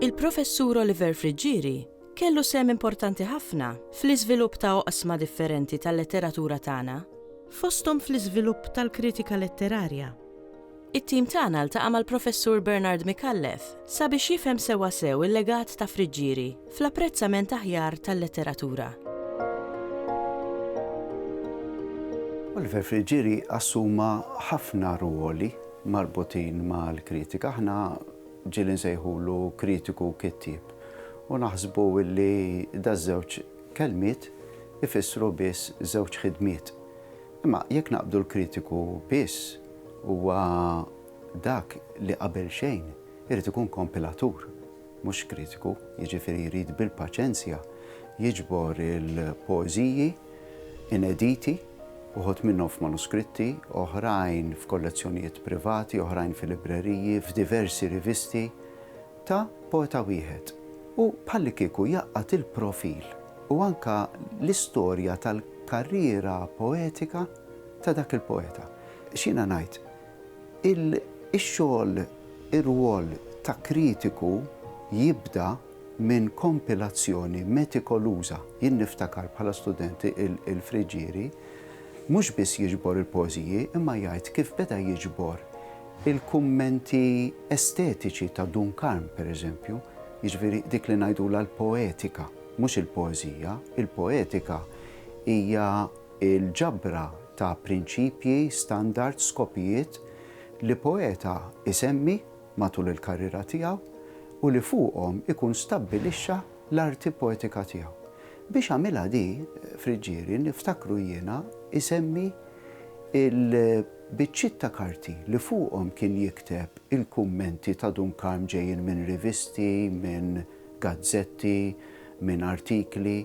Il-Professur Oliver Friggieri kellu sehem importanti ħafna fl-iżvilupp ta' oqsma differenti tal-letteratura tagħna, fosthom fl-iżvilupp tal-kritika letterarja. It-tim tagħna ltaqa' mal-Professur Bernard Micallef sabiex jifhem sewwa sew il-legat ta' Friggieri fl-apprezzament aħjar tal-letteratura. Oliver Friggieri assuma ħafna rwoli marbutin mal-kritika. Aħna ġieli nsejħulu kritiku u kittieb u naħsbu li daż-żewġ kelmiet ifissru biss żewġ ħidmiet. Imma jekk naqbdu l-kritiku biss huwa dak li qabel xejn irid ikun kompilatur mhux kritiku, jiġifieri jrid bil-paċenzja jiġbor il-poeżiji inediti, uħud minnhom f'manuskritti, oħrajn f'kollezzjonijiet privati, oħrajn fil-libreriji, f'diversi rivisti, ta' poeta wieħed u bħallikieku jgħaqqad il-profil u anke l-istorja tal-karriera poetika ta' dak il-poeta. X'jiena ngħid, ix-xogħol, ir-rwol ta' kritiku jibda minn kompilazzjoni metikoluża. Jien niftakar bħala student il-Friggieri mhux biss jiġbor il-poeżiji imma jgħid kif beda jiġbor Il-kummenti estetiċi ta' Dun Karm, per eżempju, jiġifieri dik li ngħidulha l-poetika, mhux il-poeżija, il-poetika hija l-ġabra ta' prinċipji, standards, skopijiet li poeta jsemmi matul il-karriera tiegħu u li fuqhom ikun stabbilixxa l-arti poetika tiegħu. Biex għamilha di, Friggieri, niftakru jiena, isemmi l, Biċċiet ta' karti li fuqhom kien jikteb il-kummenti ta' Dun Karm ġejjin minn rivisti, minn gazzetti, minn artikli.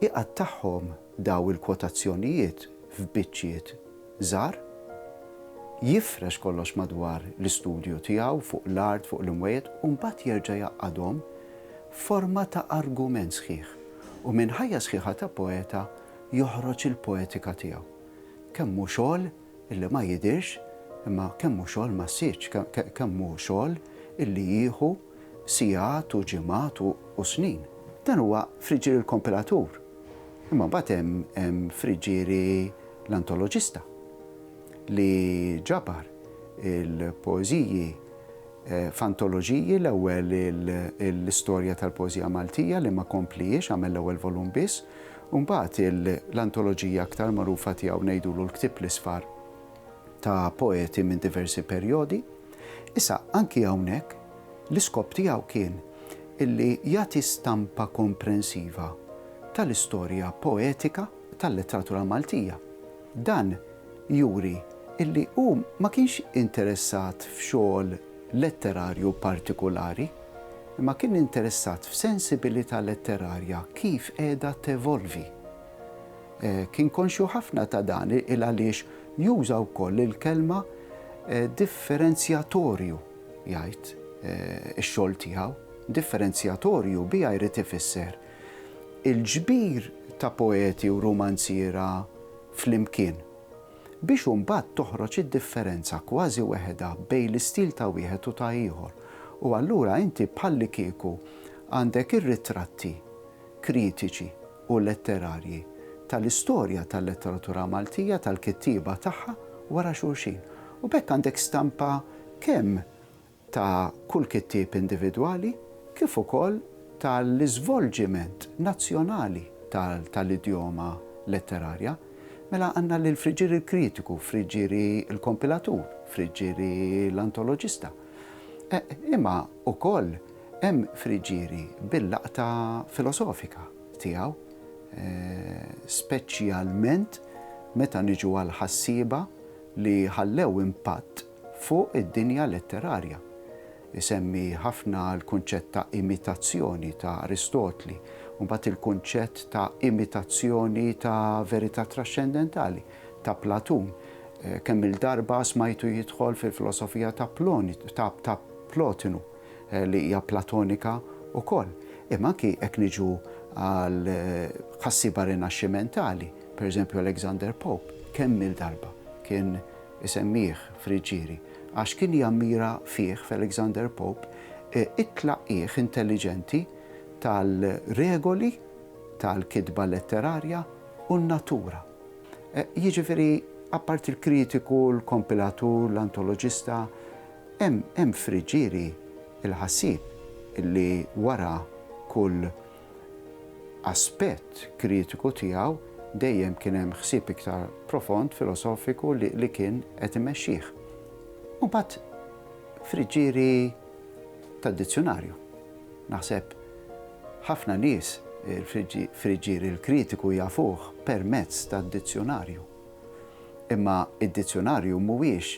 Iqattagħhom daw il-kwotazzjonijiet f'biċċiet żgħar, jifrex kollox madwar l-istudju tiegħu, fuq l-art, fuq l-imwejjed, u mbagħad jerġa' jgħaqqadhom f'forma ta' argument sħiħ. U minn ħajja sħiħa ta' poeta joħroġ il-poetika tiegħu. Kemm hu xogħol illi ma jidhirx, imma kemm hu xogħol ma ssirx, kemm hu xogħol illi jieħu sigħat u ġimgħat u snin. Dan huwa friġġieri l-kompilatur, imma mbagħad hemm friġġieri l-antoloġista li ġabar il-poeżiji f'antoloġiji, l-ewwel l-istorja tal-poeżija Maltija li ma kompliex, għamel l-ewwel volum biss, U mbagħad l-antoloġija aktar magħrufa tiegħu ngħidulu l-Ktieb l-Isfar ta' poeti minn diversi perjodi. Issa, anki hawnhekk, l-iskop tiegħu kien illi jagħti stampa komprensiva tal-istorja poetika tal-letteratura Maltija. Dan juri illi hu ma kienx interessat f'xogħol letterarju partikulari, imma kien interessat f'sensibilità letterarja kif qiegħda tevolvi. Kien konxju ħafna ta' dan il-għaliex juża wkoll il-kelma differenzjatorju jgħid ix-xogħol tiegħu. Differenzjatorju biha jrid ifisser il-ġbir ta' poeti u rumanziera flimkien, biex imbagħad toħroġ id-differenza kważi weħedha bejn l-istil ta' wieħed u ta' ieħor, u allura inti bħallikieku għandek ir-ritratti kritiċi u letterarji tal-istorja tal-letteratura Maltija, tal-kittieba tagħha wara xulxin. U b'hekk għandek stampa kemm ta' kull kittieb individwali kif ukoll tal-iżvolġiment nazzjonali tal-idjoma letterarja, mela għandna lill-friġġieri l-kritiku, friġġieri l-kompilatur, friġġieri l-antoloġista. Imma wkoll hemm friġġieri bil-laqta filosofika tiegħu, speċjalment meta niġu għall-ħassieba li ħallew impatt, fuq id-dinja letterarja. Isemmi ħafna l-kunċett ta' imitazzjoni ta' Aristotli, u mbagħad il-kunċett ta' imitazzjoni ta' verità traxxendentali ta' Platun. Kemm-il darba smajtu jidħol fil-filosofija ta' Plotinu, li hija Platonika wkoll. Imma anki jekk niġu għal ħassiba Rinaxximentali, pereżempju Alexander Pope, kemm-il darba kien isemmih Friggieri, għax kien jammira fih, f'Alexander Pope, it-tlaqqigħ intelliġenti tal-regoli tal-kitba letterarja u n-natura. Jiġifieri, apparti l-kritiku, l-kompilatur, l-antoloġista, hemm Friggieri l-ħassieb li wara kull aspett kritiku tiegħu dejjem kien hemm ħsieb iktar profond, filosofiku li kien qed imexxih. U mbagħad friġġieri tad-dizzjunarju. Naħseb ħafna nies il-friġġieri l-kritiku jafuh permezz tad-dizzjunarju. Imma id-dizzjunarju mhuwiex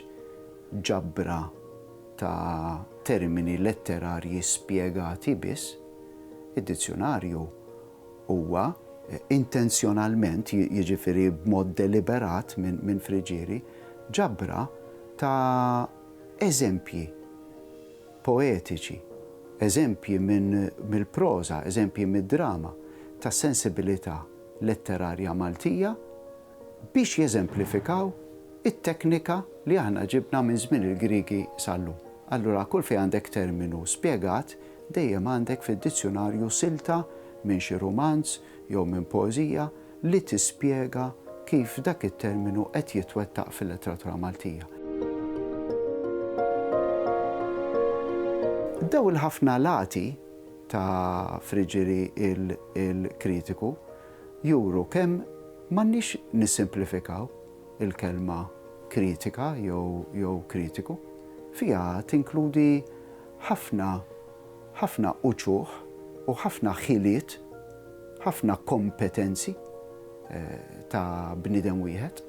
ġabra ta' termini letterarji spjegati biss, id-dizzjunarju huwa intenzjonalment, jiġifieri b'mod deliberat minn Friggieri, ġabra ta' eżempji poetiċi, eżempji mill-proża, eżempji mid-drama, tas-sensibilità letterarja Maltija, biex jeżemplifikaw it-teknika li aħna ġibna minn żmien il-Griegi sal-lum. Allura kull fejn għandek terminu spjegat, dejjem għandek fid-dizzjunarju silta minn xi rumanz jew minn poeżija li tispjega kif dak it-terminu qed jitwettaq fil-letteratura Maltija. Dawn il-ħafna lati ta' Friġieri il-kritiku, juru kemm m'għandniex nissimplifikaw il-kelma kritika jew kritiku. Fiha tinkludi ħafna ħafna uċuħ u ħafna ħiliet, ħafna kompetenzi ta' bniedem wieħed.